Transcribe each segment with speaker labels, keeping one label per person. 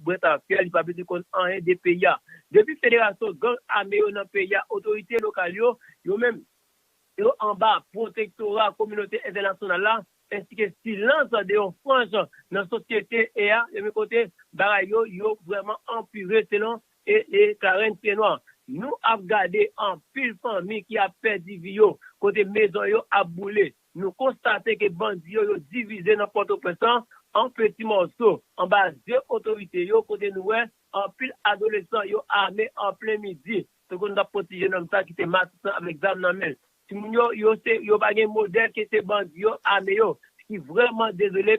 Speaker 1: Mwen ta fia li pa bezwen konn anyen de peyi a. Depi federasyon gang ame yo nan peyi a otorite lokal yo, yo menm, yo anba pwotektora kominote entènasyonal la, ensi ke silans de yon franj nan sosyete e a, ebyen kote bagay yo, yo vrèman anpire selon e Clarens Piednoir. Nou ap gade anpil fanmi ki ap pèdi vi yo, kote mezon yo ap boule. Nou konstate ke bandi yo yo divize nan Pòtoprens an an peti mòso anba zye otorite yo kote nou wè anpil adolesan yo ame an plen midi te konn tap poti jenòm sa ki te matisan avèk zam nan men l. Timoun yo yo se yo pa gen modèl ke se bandi yo ame yo ki vrèman dezole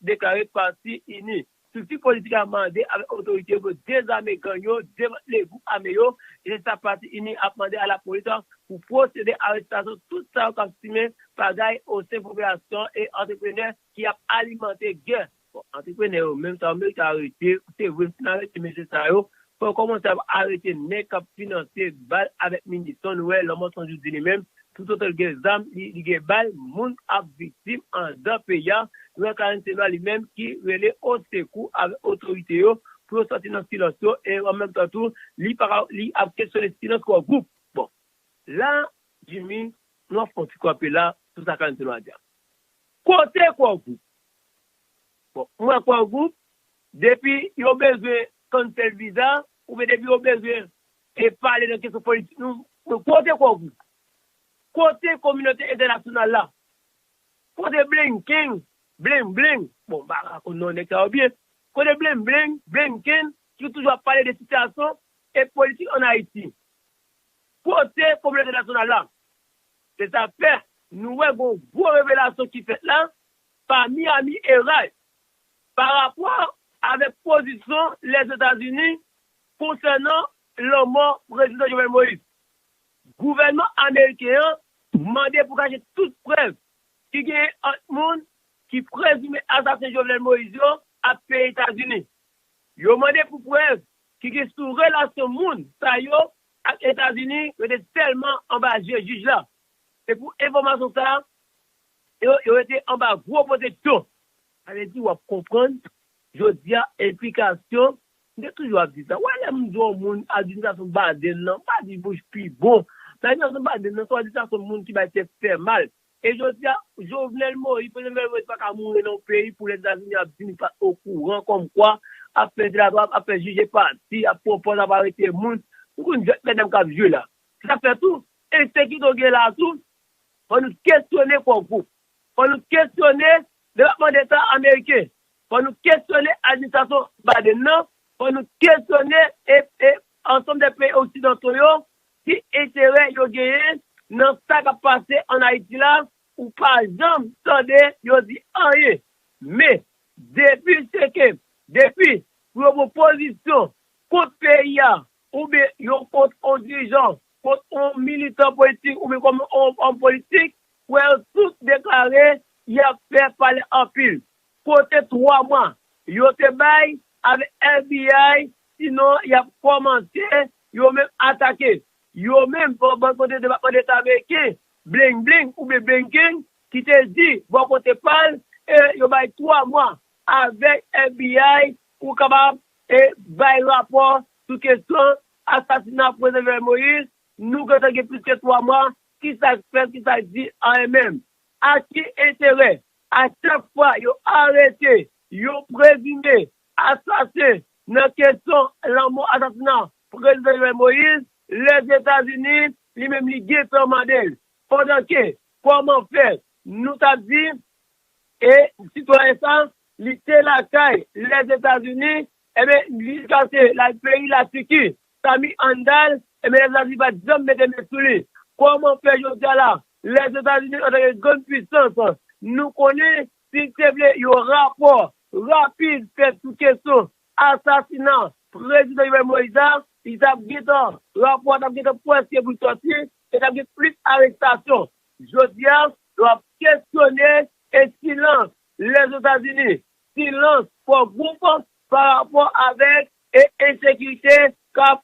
Speaker 1: deklare pati ini. Strikti politik la mande avèk otorite yo pou yo dezame gang yo, demantle gwoup ame yo, e se sa pati ini ap mande a lapolis lan pou pwosede arestasyon tout sa yo k ap simen pagay osen popilasyon e antreprenè ki ap alimante gè. Bon, antreprenè yo menm sa yo merite arete, se vre si n arete mesye sa yo, Fòk kòmanse ap arete nèg kap finanse bal avèk minison nou wè lanmò sanjou di li menm tout otan li gen zam li gen bal moun ap viktim andan peyi a lwa karenn se lwa li menm ki rele osekou avèk otorite yo pou yo sòti nan silans yo e an menm tan tou li paka li ap kesyone silans kò gwoup bon la jimmy nou ap fè yon ti kanpe la sou sa karenn se lwa di a kote kò gwoup bon mwen kwè gwoup Depi yo bezwen cancel visa oubyen depi yo bezwen e pale nan kesyon politik nou mwen kote kòb ou? Kote kominote entènasyonal la? Kote blinken, bling bling, bon mpa ka konn non nèg sa yo byen, kote bling bling, blinken, ki toujou ap pale de sitiyasyon e politik an Ayiti? Kote kominote entènasyonal la? Se sa k fè nou wè gon gwo revelasyon ki fèt la pa Miami Herald pa rapò avèk pozisyon Lèzetazini konsènan lanmò Prezidan Jovenel Moïse. Gouvènman ameriken an mande pou kache tout prèv ki genyen ant moun ki prezime asasen Jovenel Moïse yo ak peyi Etazini. Yo mande pou prèv ki gen sou relasyon moun sa yo ak Etazini rete sèlman anba je jij la. Se pou enfòmasyon sa Yo rete anba gwo pwoteksyon. Sa vle di w ap konprann jodi a enplikasyon, m te toujou ap di sa, wè lè m di yon moun administrasyon Biden lan, m pa di Bush pi bon, men administrasyon Biden lan se yon administrasyon moun ki bay tèt fè mal. E jodi a, Jovenel Moïse, Prezidan Jovenel Moïse pa ka mouri nan yon peyi pou Lèzetazini ap di li pa t okouran kòmkwa ap fè dilatwa, ap fè jije pati, ap pran pòz, ap arete moun. Nou konn jwèt mètdam k ap jwe la. Se sa k fè tou, ensekirite w gen la a tou, Fò nou kesyone Core Group. Fò nou kesyone Depatman Deta Ameriken. Fò nou kesyone administrasyon Biden nan. Fò nou kesyone ansanm de peyi oksidanto yo, ki enterè yo genyen nan sa k ap pase an Ayiti la. Ou pa janm tande yo di anyen. Men, depi se ke depi pou yo pran pozisyon kont peyi a, oubyen yo kont on dirijan, kont on militan politik oubyen kont on òm politik, wè yo tout deklare y ap fè pale anpil. Kote 3 mwa yo te bay avèk FBI sinon y ap kòmanse yo menm atake yo menm bò bò kote Depatman Deta Ameriken Bling Bling oubyen Blinken ki te di bò kote pa l e yo bay 3 mwa avèk FBI pou kapab E bay rapò sou kesyon asasina Prezidan Jovenel Moïse, nou gentan gen plis ke 3 mwa, kisa k fèt, kisa k di anyen menm? A ki enterè? A chak fwa yo arete yon prezime asasen nan kesyon lanmò asasina Prezidan Jovenel Moïse, Lèzetazini li menm li gentan mande l, pandan ke kòman fè nou ta di e sitwayen sa Li te lakay Lèzetazini, enben jiskaske l al peyi Latiki, Sami Handal, enben Lèzetazini pa t janm mete men sou li. Kòman fè jodi a la, Lèzetazini antanke grann puisans, nou konnen si l te vle yon rapò rapid fèt sou kesyon asasina Prezidan Jovenel Moïse a, li t ap gentan, rapò a t ap gentan pwèske pou l sòti e t ap gen plis arestasyon. Jodi a, yo ap kesyone e silans Lèzetazini, silans fò gwoup pa rapò avèk e ensekirite kap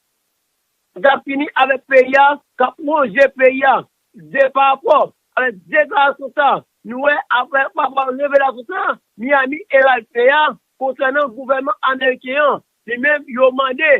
Speaker 1: kap fini avèk peyi a, kap wonje peyi a. Se pa rapò avèk deklarasyon sa a nou wè aprè pa rapò ak revelasyon sa a Miami Herald fè a konsènan gouvènman ameriken an. Li menm yo mande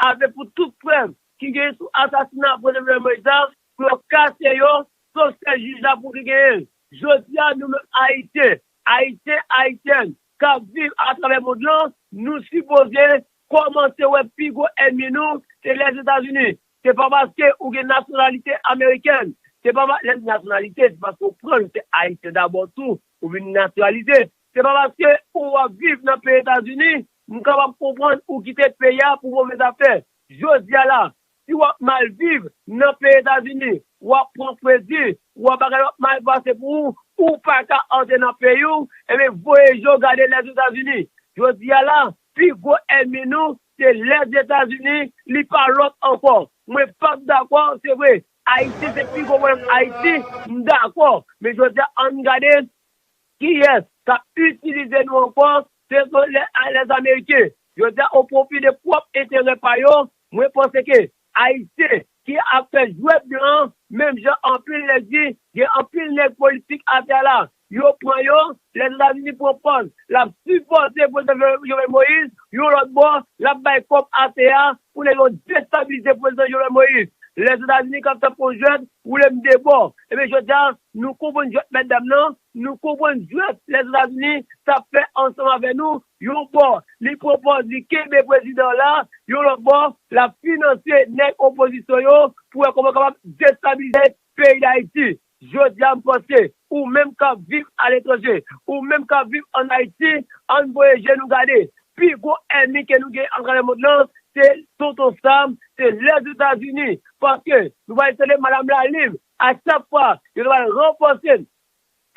Speaker 1: ave pou tout prèv ki genyen sou asasina Prezidan Jovenel Moïse la pou yo kase yo sof sèl jij la pou ki genyen l. Jodi a, nou menm Ayisyen, Ayisyen, Ayisyèn k ap viv atravè mond lan, nou sipoze kòmanse wè pi gwo ènmi nou se Lèzetazini. Se pa paske ou gen nasyonalite amerikèn, se pa pa, lè m di nasyonalite, se paske ou pran ou se Ayisyen dabò tou, ou vin natiralize. Se pa paske ou ap viv nan peyi Etazini, m kapab konprann ou kite peyi a pou move zafè. Jodi a la, Si wap mal viv nan peyi etazini wap pran fredi wa bagay yo ap mal pase pou ou ou paka antre nan peyi w ebyen voye je w gade lès etazini jodi a la pi gwo ènmi nou se lès etazini li pa lòt ankò mwen pap dakò se vre ayisyen se pi gwo pwoblèm ayiti m dakò men jodi a ann gade kiyès kap itilize nou ankò Sezo lè a lè ameriken yo di a o pwofi de pwòp enterè pa yo, mwen panse ke ayisyen ki ap fè jwèt blan an menm jan anpil nèg di gen anpil nèg politik atè a la yo pran yo lè Etazini pran pòz lap sipòte prezidan Jovenel Moïse yon lòt bò lap bay kòb atè a pou nèg yo destabilize prezidan Jovenel Moïse lè Etazini kap fè fo jwèt woule m de bò ebyen jodi a nou konprann jwèt mètdam nan Nou konprann jwèt Lèzetazini t ap fè ansanm avè nou, yon bò, li pwopòz li kenbe prezidan an la, yon lòt bò, l ap finanse nèg opozisyon yo pou wè kòman yo kapab destabilize peyi Dayiti. Jodi a m panse, ou menm k ap viv aletranje, ou menm k ap viv ann Ayiti, an n voye je nou gade. Pi gwo ènmi ke nou gen atravè mond lan, se Tonton Sam, se Lèzetazini. Paske, nou pral tande Madam Lalim, A chak fwa, yo te pral ranfòse l.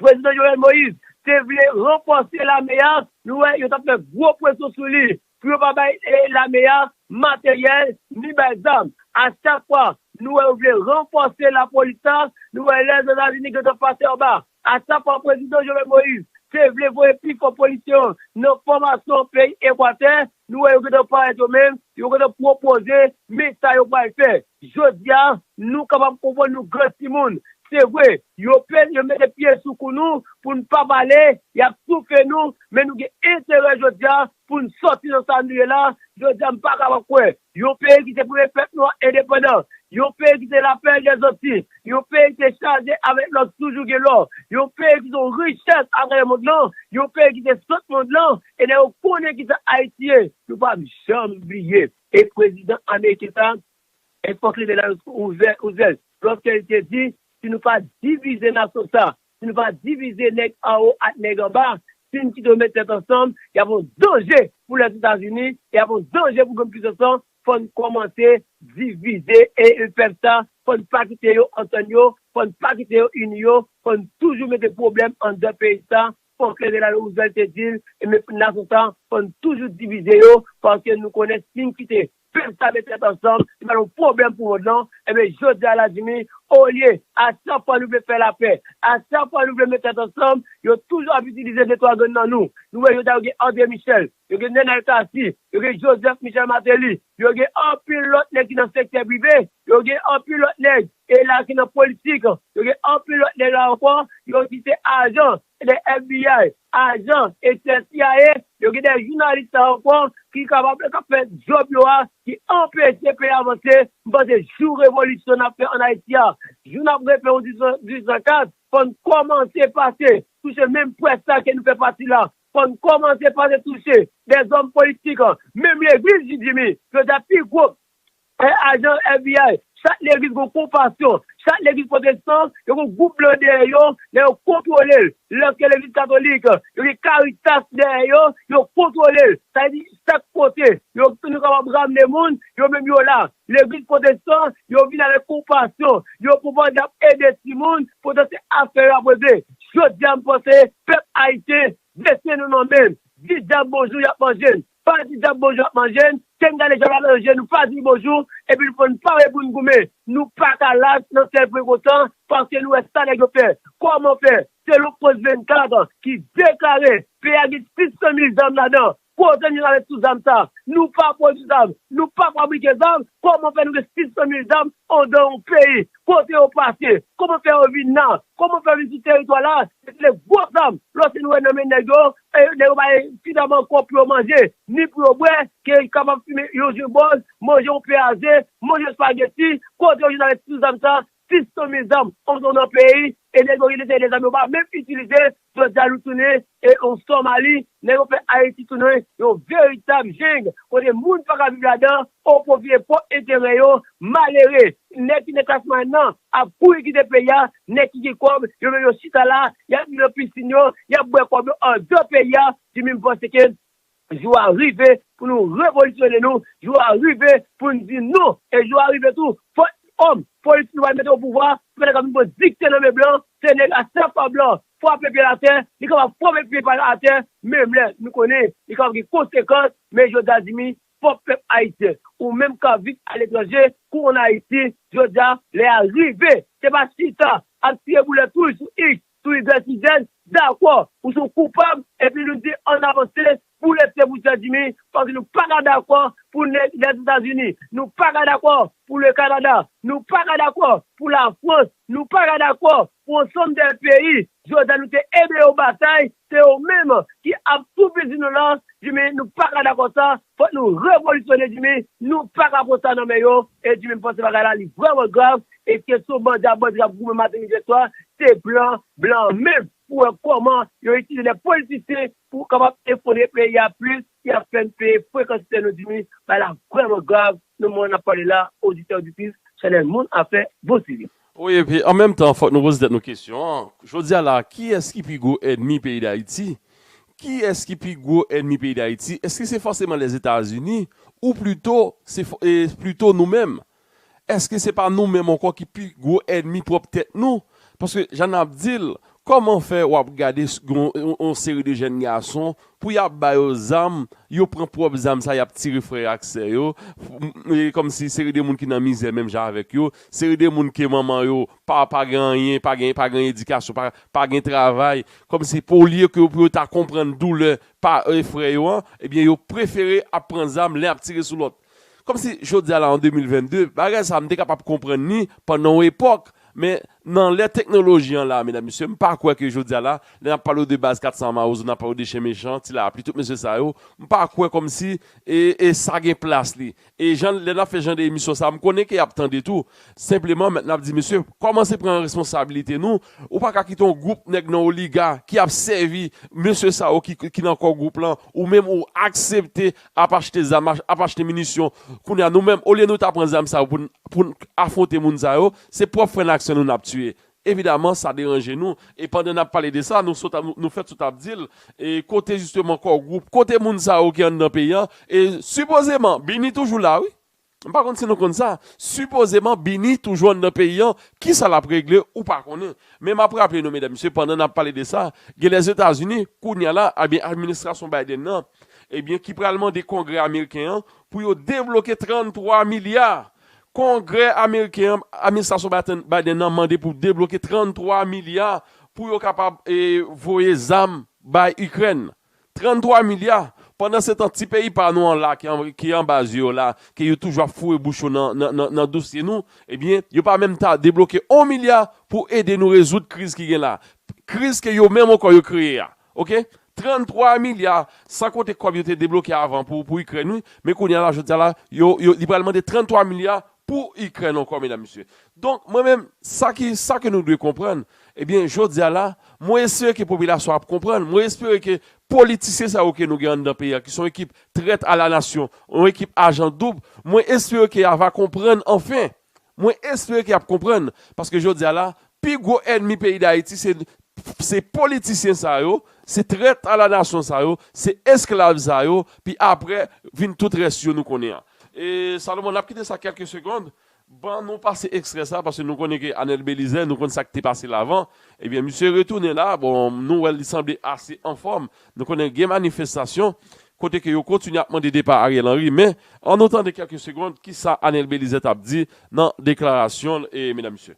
Speaker 1: Prezidan Jovenel Moïse te vle ranfòse lame a, nou wè yo t ap fè gwo presyon sou li pou yo pa bay lame a materyèl ni bay zam. A chak fwa, nou wè yo vle ranfòse lapolis la, nou wè lè Etazini gentan pase anba Asa fwa Prezidan Jovenel Moïse te vle voye pi fò polisye yo nan fòmasyon peyi Ekwatè, nou wè yo gentan parèt yo menm, yo gentan pwopoze men sa yo pral fè. Jodi a, nou kapab konprann nou gran timoun. Se vre, yo pè yo mete pye sou kou nou pou n pa pale, y ap toufe nou, men nou gen enterè jodi a pou n sòti nan sa nou ye la, jodi a m pa kapab kwè Yon peyi ki te premye pèp nwa endepandan, yon peyi ki te la pèrl dè Zanti, yon peyi ki te chaje avèk lò ki toujou gen lò, yon peyi ki se yon richès atravè mond lan, yon peyi ki se sant mond lan, e lè yo konnen kisa Ayiti ye, yo p ap janm bliye. E prezidan ameriken sa a, e fòk li te la Roosevelt, lòske li te di, si nou pa divize nasyon sa a, Nou va divize nèg anwo ak nèg anba. Si n kite yo met tèt ansanm, y ap yon danje pou lès Etazini e y ap yon danje pou grann pisans lan. Fò n kòmanse divize e pèp sa a, fò n pa kite yo antann yo, fò n pa kite yo ini yo, fò n toujou mete pwoblèm anndan peyi sa a. Franklin Delano Roosevelt te di l, e men nasyon sa a, fò n toujou divize yo, paske nou konnen si n kite Pèp sa met tèt ansanm, se pa yon pwoblèm pou mond lan, enben jodi a la Jimmy, olye, a chak fwa nou vle fè lapè, a chak fwa nou vle met tèt ansanm, yo toujou ap itilize de twa grenn nan nou, nou wè jodi a yo gen André Michel, yo gen Nenel Cassy, yo gen Joseph Michel Martelly, yo gen anpil lòt nèg ki nan sektè prive, yo gen anpil lòt nèg e la ki nan politik, yo gen anpil lòt nèg la ankò, yo di se ajan, Gen de FBI ajan etyèl cia yo gen de jounalis sa yo kon ki kapab kap fè djob yo a ki anpeche peyi avanse m panse jou revolisyon nap fè an ayiti a jou nap refe yon 1804 fòn kòmanse pase touche menm près la ke nou fè pati la fòn kòmanse pase touche de zòm politik menm legliz ji jimmy yo ta pi gwo He ajan FBI, chak legliz gon konfasyon, chak legliz pwotestan yo gon gwoup blan dèyè yo lè yo kontwolel, lèske legliz katolik yo gen karitas dèyè yo, yo kontwolel, sa vle di chak kote yo nou kapab ramne moun yo menm yo la, legliz pwotestan yo vin avèk konpasyon, yo konprann yap ede timoun poutan se afè yo ap regle, jodia m panse pèp ayisyen vle siye nou nan men, di dyab bonjou yap manjel. Pa di dyab bonjou ap manje n, ke n gade jan l al ranje n, nou pa di l bonjou, epi nou pran n pare pou n goumen. Nou pa ka las nan fè pwen kontan, paske nou wè sa nèg yo fè. Kòman fè? Selon Post 24, ki deklare, peyi a gen 600 mil zam ladan, kote nou rale tout zam sa a? Nou pa pwodui zam, nou pa fabrike zam, kòman fè nou gen 600 mil zam andan yon peyi? Kote yo pase? Kòman fè yo vin la? Kòman fè yo vin sou teritwa la? Se te de gwo zam, lòske nou wè nan men nèg yo, Nèg yo bay ti dam ankò pou yo manje, ni pou yo bwè, ke li kapab fimen yon ginbòl, manje yon pè a ze, manje spageti, kote yo jwenn avèk tout zam sa, 600 mil zam antre nan peyi, e nèg yo rete sèye de zam yo pa menm itilize, jodia nou tounen yon Somali, nèg yo fè Ayiti tounen yon veritab jeng, kote moun paka viv ladan, Oh pon vye fo enterè yo malere nèg ki nan klas mwayèn nan ap kouri kite peyi a nèg ki gen kòb yo menm yo chita la yap ri nan piscine yo yap bwè kòb yo andan peyi a di min panse ke jou a rive pou nou revolisyone nou jou a rive poun di non e jou a rive tou fo òm polis nou pral mete o pouvwa se pa nèg kap vin pran dikte nan men blan se nèg a sa fwa blan fwape pyel atè li kapab fwape pye pal atè menm lè nou konnen li kapab gen konsekans men jodi a di min Fòk pèp ayisyen ou menm kap viv aletranje konn ayiti jodi a lè a rive se pa chita ap tire boulèt rouj sou iks sou igrèk sou zèd dakò ou son koupab epi nou di ann avanse pou lete pou sè jimi paske nou paka dakò pou nèg lèzetazini nou paka dakò pou le kanada nou paka dakò pou lafrans nou paka dakò pou ansanm de peyi jodi a nou te ede yo batay Se yo menm ki ap tou pezi nou lan djimi nou paka dakò sa fòk nou revolisyone djimi nou paka pran sa nan men yo e djimi m panse bagay la li vrèman grav e kesyon bandi a bandi kap goumen maten midi e swa se plan blan menm pou wè kòman yo itilize lè politisyen pou kapab efondre peyi a plis ki ap fè n peye fre kantite nou di wi bay la vrèman grav nan moman n ap pale la oditè oditris chanèl moun afè bon sivi. Wi epi an menm
Speaker 2: tan fòk nou poze tèt nou kesyon an jodi a la a kiyès ki pi gwo ènmi peyi dayiti kiyès ki pi gwo ènmi peyi dayiti èske se fòseman lèzetazini ou plito se fò e plito nou menm Èske se pa nou menm ankò ki pi gwo ènmi pwòp tèt nou? Paske jan n ap di l, kòman fè w ap gade yon seri de jèn gason pou y ap ba yo zam, yo pran pwòp zam sa y ap tire frè yo ak sè yo, kòmsi seri de moun ki nan mizè menm jan avèk yo, seri de moun ke manman yo pa pa gen anyen, pa gen pa gen edikasyon, pa pa gen travay, kòmsi pou olye ke pou yo ta konprann doulè pa frè yo an, ebyen yo prefere ap pran zam len ap tire sou lòt. Kòmsi jodi a la an 2022, bagay sa a m te kapab konprann li pandan yon epòk, men nan lè teknoloji an la a medam mesye, m pa kwè ke jodi a la, lè n ap pale w de baz 400 mawozo, n ap pale w de chen mechan, ti lapli, tout mesye sa yo, m pa kwè kòmsi e sa gen plas li. E jan lè n ap fè jan de emisyon sa a, m konnen ke y ap tande tou, senpleman mèt n ap di mesye, kòmanse pran responsabilite nou, ou pa ka kite yon gwoup nèg nan oliga ki ap sèvi mesye sa yo ki nan kò gwoup lan, ou menm ou aksepte ap achte zam, ap achte minisyon, kounye a nou menm olye nou ta pran zam sa yo pou n pou n afwonte moun sa yo, se pwòp frè n ak sè nou n ap tiye. Evidaman sa deranje nou e pandan n ap pale de sa nou sot nou fèt sot ap di l e kote jisteman kò gwoup, kote moun sa yo ki anndan peyi an e sipozeman bini toujou la wi. M pa konn si nou konn sa, sipozeman Bini toujou anndan peyi an, kisa l ap regle ou pa konnen. Men m ap raple nou medam mesye pandan n ap pale de sa, gen Lèzetazini kounya la ebyen administrasyon Biden nan ebyen ki pral mande kongrè ameriken an pou yo debloke 33 milya. Kongrè ameriken an administrasyon Biden nan mande pou debloke 33 milya pou yo kapab voye zam bay Ikrèn. 33 milya, pandansetan ti peyi pa nou an la ki anba zye yo la ke yo toujou ap foure bouch yo nan dosye nou, ebyen yo pa menm ta debloke 1 milya pou ede nou rezoud kriz ki gen la, kriz ke yo menm ankò yo kreye a. Ok. 33 milya, san konte kòb yo te debloke avan pou Ikrèn wi, men kounye a la jodi a la, yo, yo, li pral mande 33 milya Pou ikrèn ankò medam mesye. Donk mwen menm sa ki sa ke nou dwe konprann ebyen jodi a la mwen espere ke popilasyon ap konprann mwen espere ke politisyen sa yo ke nou gen anndan peyi a ki son ekip trèt a la nasyon yon ekip ajan doub mwen espere ke ya va konprann anfen mwen espere ke yap konprann paske jodi a la pi gwo ènmi peyi dayiti se Se politisyen sa yo, se trèt a la nasyon sa yo, se esklav sa yo, pi apre vin tout rès yo nou konnen an. E Salomon nap kite sa kèlke segond, ban nou pase ekstrè sa paske nou konnen ke Anel Belizaire nou konn sak te pase l avan, ebyen misye retounen la, bon nou wè l li sanble ase anfòm, nou konnen gen manifestasyon kote ke yo kontinye ap mande depa Ariel Henry men an nou tande kèlke segond kisa Anel Belizaire tap di nan deklarasyon l e medam mesye.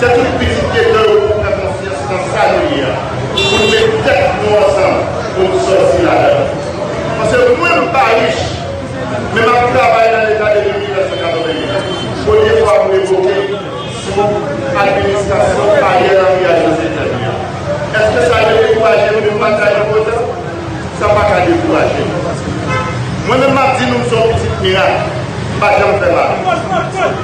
Speaker 3: Se tout pitit geto yo pou pran konfyans nan sa nou ye a pou nou met tèt nou ansanm pou nou sòti ladann. Pase mwen m pa rich men m ap travay nan leta depi 1988 premye fwa m revoke sou administrasyon Ariel Henry a José Tèmi a. Eske sa dekouraje m vin batay nan potan? Sa pa ka dekouraje m. Mwen menm m ap di nou m son pitit mirak m pa janm fè mal.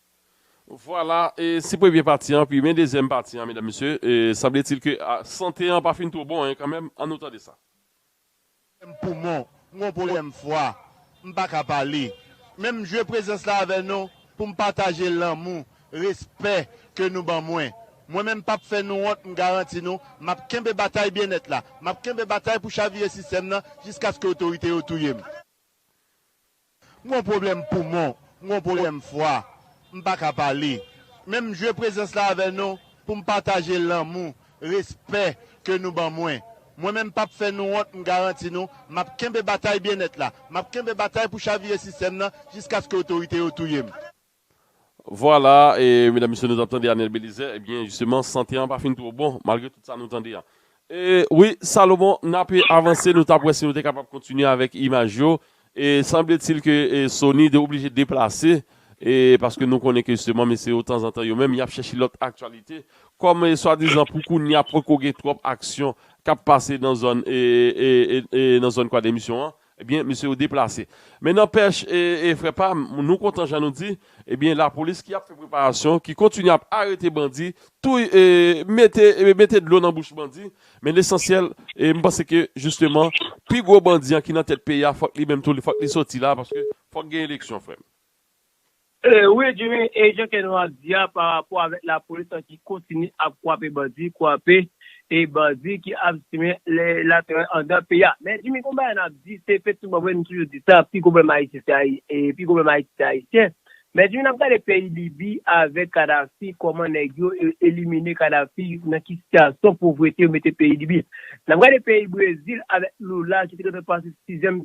Speaker 3: Vwala
Speaker 2: e se premye pati an pi men dezyèm pati an medam mesye sanbletil ke sante an pa fin two bon en kanmenm an nou tande sa. M gen pwoblèm
Speaker 4: poumon, m gen pwoblèm fwa, m pa ka pale. Men m jwe prezans la avè nou pou m pataje lanmou, respè ke nou ban mwen. Mwen menm pap fè nou wont m garanti nou m ap kenbe batay byennèt la, m ap kenbe batay pou chavire sistèm nan jiskaske otorite yo touye m. M gon pwoblèm poumon, m gon pwoblèm fwa, m pa ka pale. Men m jwe prezans la avè nou pou m pataje lanmou, respè ke nou ban mwen. Mwen menm pap fè nou wont m garanti nou m ap kenbe batay byennèt la, m ap kenbe batay pou chavire sistèm nan jiskaske otorite yo touye m.
Speaker 2: Vwala e medam mesye nou tap tande Anel Belizaire e byen jisteman sante an pa fin two bon malgre tout sa nou tande an. E wi Salomon nape avanse nou tap wè si nou te kapab kontinye avèk imaj yo e sanbletil ke Sony de oblije deplase e paske nou konnen ke jisteman mesye yo tanzantan yo menm yap chèche lòt aktyalite kòm e swadizan pou kounya poko gen twòp aksyon kap pase nan zòn e nan zòn kwadèmisyon an Ebyen mesye yo deplase. Men nanpèch e frè pam nou kontan jan nou di ebyen lapolis ki ap fè preparasyon ki kontinye ap arete bandi touy e mete mete dlo nan bouch bandi men lesansyèl e m panse ke jisteman pi gwo bandi an ki nan tèt peyi a fòk li menm tou fòk li sòti la paske fòk gen eleksyon frè m.
Speaker 1: Wi Jimmy, e jan kè nou ap di a pa rapò avèk lapolis lan ki kontinye ap kwape bandi, kwape e bandi ki ap simen laterè andan peyi a. Men Jimmy gon bagay nap di, se fè souban vre nou toujou di sa, pi gwo pwoblèm Ayiti se pi gwo pwoblèm Ayiti se Ayisyen. Men Jimmy nap gade peyi Libi avèk Kadafi kòman nèg yo elimine Kadafi nan ki sitiyasyon povrete yo mete peyi Libi. N ap gade peyi Brezil avèk Lula ki te gentan pase sizyèm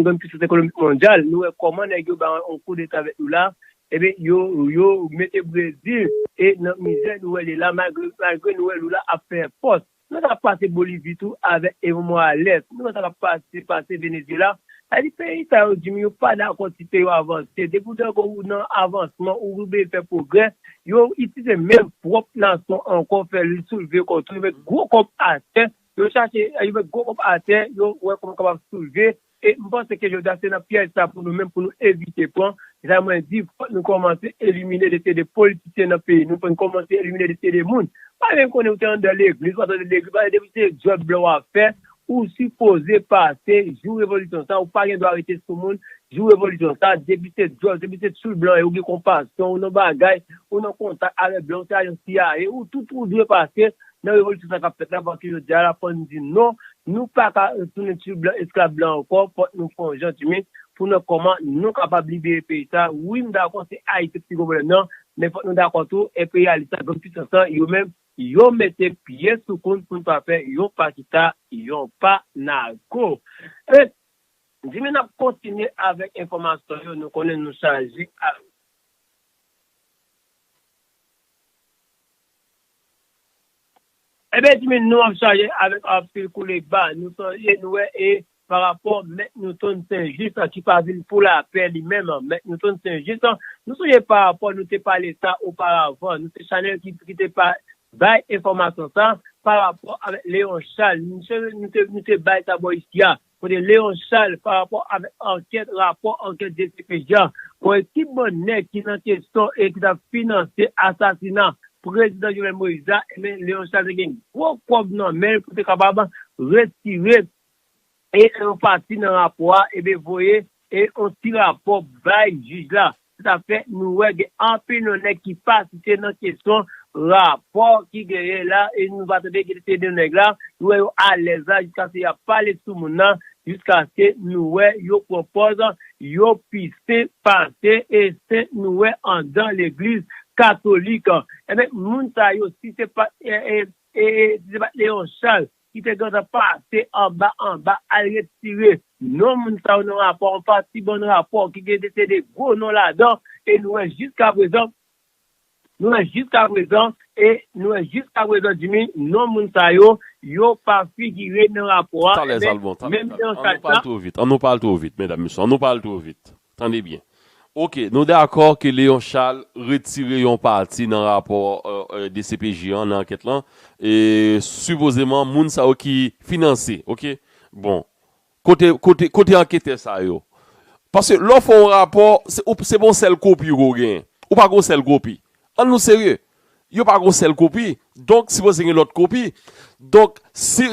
Speaker 1: grenn pisans ekonomik mondyal, nou wè kòman nèg yo bay yon koudeta avèk Lula, ebyen yo mete Brezil nan mizè nou wè li la malgre nou wè Lula ap fè fòs. Nou wè sa k ap pase Bolivi tou avèk Evo Morales, nou wè sa k ap pase Venezyela Sa di peyi sa yo Jimmy yo pa dakò ti peyi yo avanse depi ou dakò ou nan avansman ou rive fè pwogrè yo itilize menm pwòp nasyon ankò fè l soulve kò tou yo met gwo kòb atè yo chache yo met gwo kòb atè yo wè kòman yo kapab soulve e m panse ke jodi a se nan pyèj sa pou nou menm pou nou evite pran se sa mwen di fòk nou kòmanse elimine de se de politisyen nan peyi nou fòk nou kòmanse elimine de se de moun pa menm konnen ou te anndan legliz ou pa t anndan legliz depi se djòb blan w ap fè Ou sipoze pase jou revolisyon sa ou pa gen dwa rete sou moun jou revolisyon sa depi se djòl depi se tchoul blan ou gen konpasyon ou nan bagay ou nan kontak avè blan ou se ajan cia ou tout ou dwe pase nan revolisyon sa kap fèt la paske jodia la fò nou di non nou paka tounen tchoul blan esklav blan ankò fòk nou fè yon jan dimen pou nan kòman nou kapab libere peyi sa wi m dakò se ayiti ki pi gwo pwoblèm nan men fòk nou dakò tou enperyalis la grann pisans lan yo menm Yo mete pye sou kont poun pa fè yon pa kita yon pa nago. Ebyen Jimmy nap kontinye avèk enfòmasyon yo nou konnen nou chaje ak. Ebyen Jimmy nou ap chaje avèk anpil koule ba nou sonje nou wè e Pa rapò Mèt Newton Sen Jis an ki pa vin pou lapè li menm, Mèt Newton Sen Jis an, nou sonje pa rapò nou te pale sa oparavan, nou se chanèl ki ki te pa bay enfòmasyon sa, pa rapò avèk Leon Chal, nou sonje nou te nou te bay sa bò isi a, kote Leon Chal pa rapò avèk ankèt rapò ankèt dcpj a, bon e ki bann nèg ki nan kesyon e ki t ap finanse asasina Prezidan Jovenel Moïse la, enben Leon Chal te gen gwo kòb nan men l pou te kapab retire e nan yon pati nan rapò a eben voye e yon ti rapò bay jij la. Se sa fè nou wè gen anpil non nèg ki pa site nan kesyon rapò ki genyen la e nou pa tande ki se non nèg la. Nou wè yo alèz la jiskaske y ap pale sou moun nan jiskaske nou wè yo pran pòz yo pi sen pase e sen nou wè andan legliz katolik. Eben moun sa yo si se pa t e e si se pa t Leon Charles ki te gentan pase anba anba al retire non moun sa yo nan rapò yon pati bann rapò ki te gen te de gwo non ladan e nou wè jiskaprezan nou wè jiskaprezan e nou wè jiskaprezan Jimmy non moun sa yo yo pa figire nan rapò a Talèzalbon talèzalbon
Speaker 2: an nou pa al two vit an nou pa al two vit medam mesye an nou pa al two vit Tande byen. Ok, nou dakò ke Léon Charles retire yon pati nan rapò dcpj an nan ankèt lan, sipozeman moun sa yo ki finanse, ok. Bon, kote, kote, kote anketè sa yo? Paske lè w fè yon rapò, se pa yon sèl kopi ke w genyen. Ou pa gen yon sèl kopi. Annou serye. Yo pa gon sèl kopi. Donk sipoze gen lòt kopi. Donk si,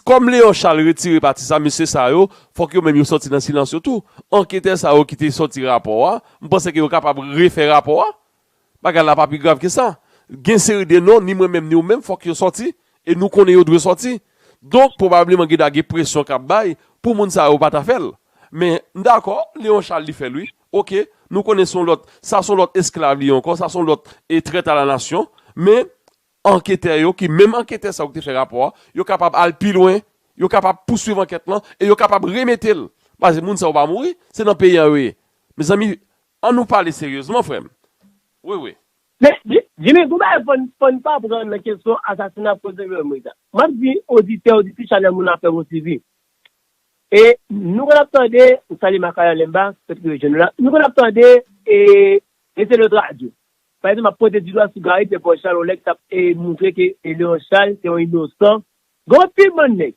Speaker 2: kòm Léon Charles retire pati sa, mesye sa yo, fòk yo menm yo sòti nan silans yo tou. Anketè sa yo ki te sòti rapò a, m panse ke yo kapab refè rapò a. Bagay la pa pi grav ke sa. Gen seri de non, ni mwen menm ni ou menm, fòk yo sòti. E nou konnen yo dwe sòti. Donk, pwobableman gen dwa gen presyon k ap bay pou moun sa yo pa ta fè l. Men, m dakò, Léon Charles li fè l wi. Ok, nou konnen son lòt, sa son lòt esklav li ankò, sa son lòt e trèt a la nasyon, men anketè yo ki menm anketè sa yo ki te fè rapò a, yo kapab al pi lwen, yo kapab pouswiv ankèt lan e yo kapab remete l, paske moun sa yo pa mouri, se nan peyi a yo ye. Mezanmi, an nou pale seryezman frè m. Wi wi. Men,
Speaker 1: Jimmy, gon bagay fò n pa pran nan kesyon asasina Prezidan Jovenel Moïse la. M ap di oditè, oditrice chanèl moun afè m yon ti vi. E nou konn ap tande, m salye Makayan Lemba, pèt ki rejwenn nou la, nou konn ap tande e e se lòt radyo. Pa egzanp ap pwente di dwa sou Gary Pierre-Paul Charles yon nèg k ap e montre ke e Léon Charles se yon inosan. Gen anpil bann nèg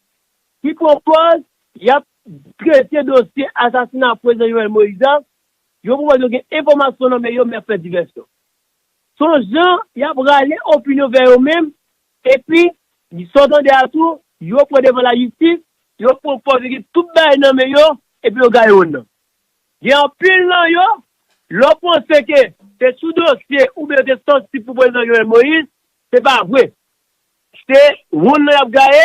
Speaker 1: ki pran pòz y ap trete dosye asasina Prezidan Jovenel Moïse a, yo pou wè yo gen enfòmasyon nan men yo men y ap fè divèsyon. S on jan y ap rale opinyon vè yo menm Epi, sa w tande a tou, yo pran devan lajistis, yo pran kò vigi tout bagay nan men yo, epi yo gaye wonn nan. Gen anpil nan yo, lè w panse ke se sou dosye oubyen yo te sansib pou Prezidan Jovenel Moïse, se pa vre. Se wonn nan y ap gaye,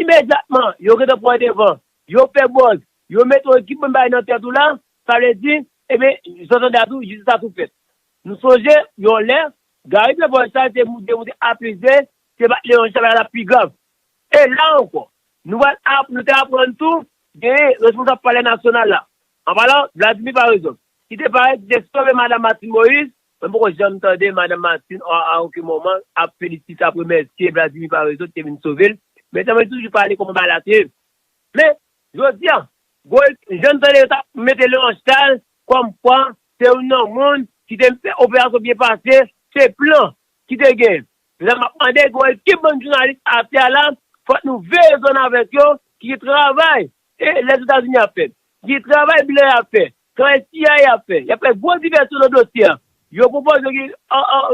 Speaker 1: imedyatman yo gentan pran devan, yo fè buzz, yo mete yon ekip bann bagay nan tèt ou la, sa vle di, eben, sa w tande a tou, jistis la tou fèt. Nou sonje yon lè, Garry Devoy sa te moute moute a plis de, se pat Leon Charles la t ap pi grav. E la ankò, nou pral ap, nou te aprann tou, genyen responsab palè nasyonal la, an palan Vladimir Paraison, ki te parèt, ki te sove Madam Martine Moïse, mwen poko janm tande Madam Martine a a oken moman ap felisite, ap remèsye Vladimir Paraison ki te vin sove l, men sèlman li toujou pale kòman bagay la te ye. Men, jodi a, gwo, jan n tande yo t ap mete Leon Charles Kòm kwa, se youn nan moun ki te fè operasyon byen pase, se plan ki te gen. Se sa m ap mande gwo ekip bann jounalis atè a la, fòk nou veye zòn avèk yo ki gen travay Lèzetazini ap fè, ki gen travay blan yo ap fè, travay CIA ap fè. Y ap fè gwo divèsyon nan dosye a. Yo pwopoze yo gen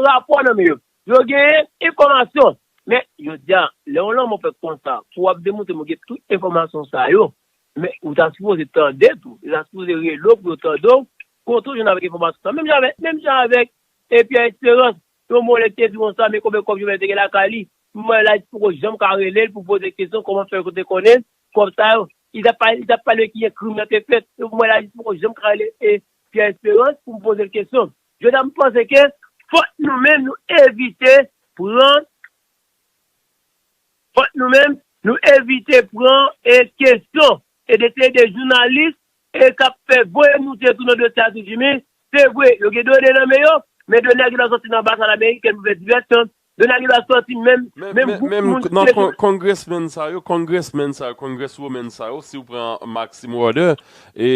Speaker 1: rapò nan men yo. Yo gen enfòmasyon. Men, jodi a, lè yon lanmò fèt konsa, pou w ap demontre m gen tout enfòmasyon sa yo, Men ou ta sipoze tande tou. Yo ta sipoze rele w pou yo tande w, kontre w jwenn avèk enfòmasyon sa. Menm jan avèk, menm jan avèk e Pierre Esperance. Yon mò lè te di konsa men konbyen kòb Jovenel te gen lakay li. Moman la li poko janm ka rele l pou poze l kesyon kòman fè yo te konnen kòb sa yo. Li ta pale, li ta pale ki jan krim nan te fèt. Yo moman la li poko janm ka rele e Pierre Esperance pou m poze l kesyon. Jodi a m panse ke fòk nou menm nou evite pran. Fòk nou menm, nou evite pran e kesyon e dete de jounalis e kap fè voye moute tou nan dosye Atis Jimmy, se vre yo gen done nan men yo, men done a gen dwa sòti nan anbasad amerikèn pou fè divèsyon, done a gen dwa sòti menm, menm gwoup moun ki te sou.
Speaker 2: Congressmen sa yo, congressmen sa yo, congresswomen sa yo, si ou pran Maxime Roeder, e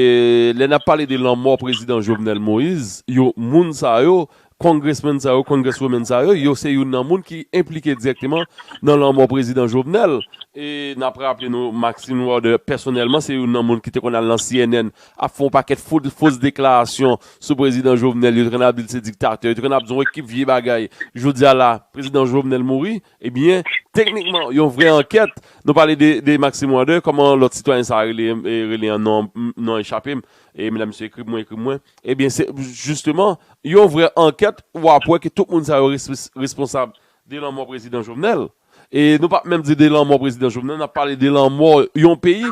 Speaker 2: lè nap pale de lanmò prezidan Jovenel Moïse, yo moun sa yo, Congressman sa yo, Congresswoman sa yo, yo se youn nan moun ki enplike dirèkteman nan lanmò Prezidan Jovenel. E n ap raple nou Maxine Warder pèsonèlman se youn nan moun ki te konn al nan cnn ap fè yon pakèt fos deklarasyon sou Prezidan Jovenel, yo te konn ap di l se diktatè, yo te konn ap di yon ekip vye bagay. Jodi a la Prezidan Jovenel mouri, ebyen teknikman yon vrè ankèt, nou pale de Maxime Warder, kòman lòt sitwayen sa a rele an non an echape m, E mda misye ekri pou mwen ekri pou mwen. Ebyen se jisteman yon vrè ankèt wap wè ke tout moun sa yo responsab de lanmò prezidan Jovenel. E nou pap menm di de lanmò prezidan Jovenel nap pale de lanmò yon peyi.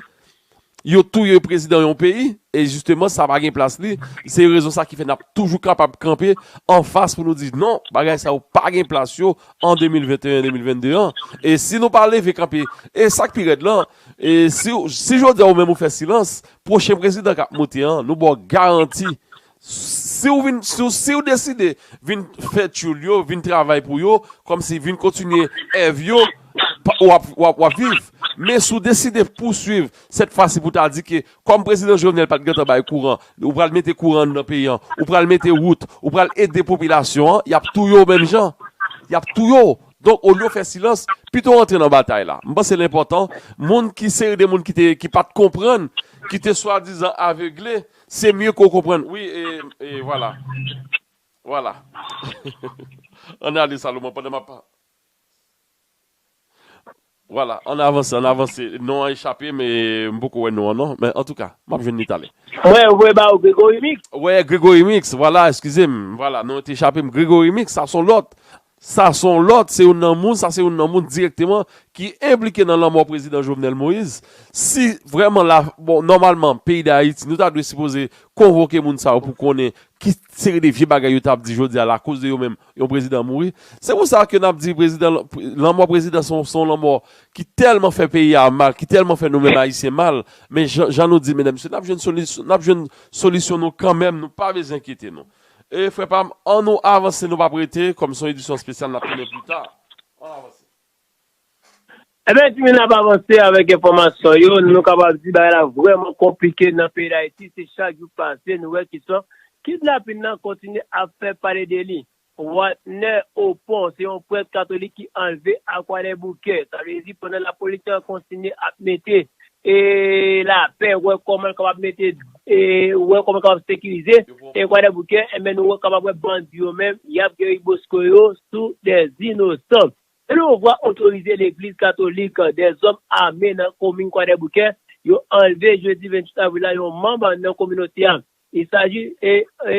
Speaker 2: Yo touye prezidan yon peyi e jisteman sa pa gen plas li. Se rezon sa ki fè nap toujou kapab kanpe anfas pou nou di non bagay sa yo pa gen plas yo an 2021 2022 an. E si nou pa leve kanpe e sak pi rèd lan E si jodi a ou menm ou fè silans, pwochen prezidan kap moute an, nou ba w garanti, si w vin, si w deside vin fè tyoul yo, vin travay pou yo, kòmsi vin kontinye èv yo, w ap viv. Men si w deside pouswiv, sèt fwa si pou ta di ke kòm prezidan Jovenel pat gentan bay kouran, ou pral mete kouran anndan peyi an, ou pral mete wout, ou pral ede popilasyon an, y ap touye w menm jan. Y ap touye w. Donk olye w fè silans, pito w antre nan batay la. M panse l enpòtan, moun ki seri de moun ki te, ki pa t konprann, ki te swadizan avegle, se mye ke w konprann. Wi, e, e vwala. Vwala. An ale Salomon pandan m ap. Vwala, ann avanse, ann avanse. Non an echape m e m poko wè non an non. Men antouka, m ap jwenn li talè. Mwen voye ba ou
Speaker 1: Gregory Mix. Wè, Gregory Mix,
Speaker 2: vwala, eskize m. Vwala, non an te echape m. Gregory Mix, sa s on lòt. Sa s on lòt, se youn nan moun, sa se youn nan moun dirèkteman ki enplike nan lanmò Prezidan Jovenel Moïse. Si vrèman la, bon, nòmalman, peyi Dayiti, nou ta dwe sipoze konvoke moun sa yo pou konnen ki seri de vye bagay yo t ap di jodi a lakoz de yo menm Yon prezidan mouri. Se pou sa ke nap di prezidan, lanmò prezidan se yon, se yon lanmò ki tèlman fè peyi a mal, ki tèlman fè nou menm ayisyen mal, men jan, jan nou di medam mesye nap jwenn solis, nap jwenn solisyon nou kanmenm nou pa bezwen enkyete nou. E frè pam, an nou avanse nou pap rete, kòm se yon edisyon spesyal nap tounen pli ta. An nou avanse.
Speaker 1: Ebyen timoun nap avanse avèk enfòmasyon yo, nou kapab di bagay la vrèman konplike nan peyi dayiti, se chak jou k pase nou wè ki sò kidnapin nan kontinye ap fè pale de li. Watnè Opon se yon prèt katolik ki anlve a kwadèboukè, sa vle di pandan lapolis te kontinye ap mete lapè wè kòman l kapab mete wè kòman l kapab sekirize kwadèboukè, ebyen nou kapab wè bandi yo menm yap geri bosko yo sou dè inosan. Sendomengwa otorize legliz katolik de zòm ame nan komin Kwadèboukè yo anlve jedi 28 avril la yon manm nan kominote a. Il saji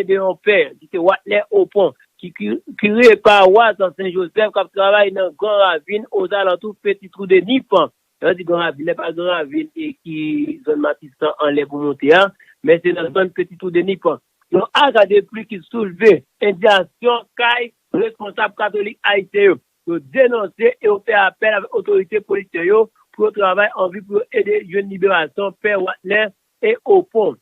Speaker 1: de yon pè ki se Watner Opon ki kire pawas Sen Jozèf kap travay nan Gran Ravin ozalantou Peti Twou de Nip. Lè yo di Gran Ravin la e pa Gran Ravin ki zòn Matisan anlè pou moute a men se nan zòn Peti Twou de Nip. Yon aga depli ki soulve endiyasyon kay responsab katolik ayisyen yo. Yo denonse e yo fè apèl avèk otorite polisyen yo pou yo travay anvi pou yo ede jwenn liberasyon pè Watner e Opon.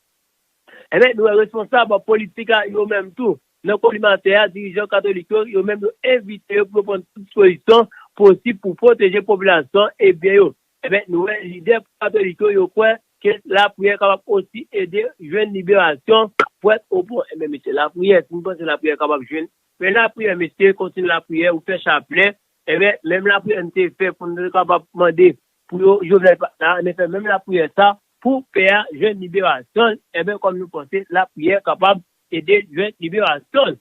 Speaker 1: Enben, nou wè responsab politik la yo menm tou, nan kolimatè a, dirijan katolik yo, yo menm yo envite yo pou yo pran tout dispozisyon posib pou pwoteje popilasyon e byen yo. Enben, nou wè lidè katolik yo, yo kwè ke lapriyè kapab osi ede jwenn liberasyon pwèt o bon. Enben mesye, lapriyè, si nou panse lapriyè kapab jwenn, fè lapriyè mesye, kontinye lapriyè, ou fè chaplen, enben, menm lapriyè nou te fè pou nou te kapab mande pou yo Jovenel pa t la, enben fè menm lapriyè sa pou pè a jwenn liberasyon l, enben kòm nou panse lapriyè kapab ede l jwenn liberasyon l.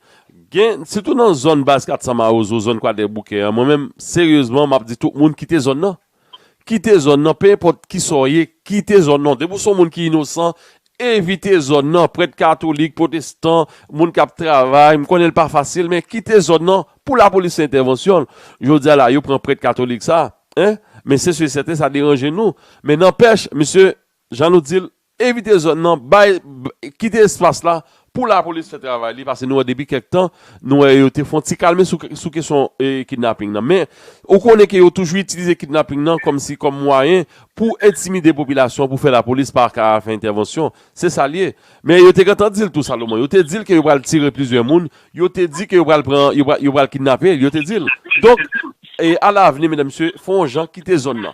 Speaker 2: Gen, sitou nan zòn baz 400 mawozo, zòn kwadèboukè an, mwen menm, seryezman, m ap di tout moun kite zòn nan. Kite zòn nan, pe enpòt ki sa w ye, kite zòn nan. Depi w se yon moun ki inosan, evite zòn nan. Prèt katolik, pwotestan, moun k ap travay, m konnen l pa fasil, men kite zòn nan pou lapolis fè entèvansyon l. Jodi a la, yo pran prèt katolik sa a, men se si e sèten sa deranje nou. Men nanpèch, misye, jan nou di l, Evite zòn nan, bay, kite espas la pou lapolis fè travay li pase nou wè depi kèk tan nou wè yo te fon ti kalme sou kesyon kidnaping nan men ou konnen ke yo toujou itilize kidnaping nan kòm si kòm mwayen pou entimide popilasyon an pou fè lapolis pa ka fè entèvansyon se sa l ye men yo te gentan di l tou Salomon yo te di l ke yo pral tire plizyè moun yo te di ke yo pral pran yo pral kidnape l yo te di l donk e alavni medam mesye fon jan kite zòn nan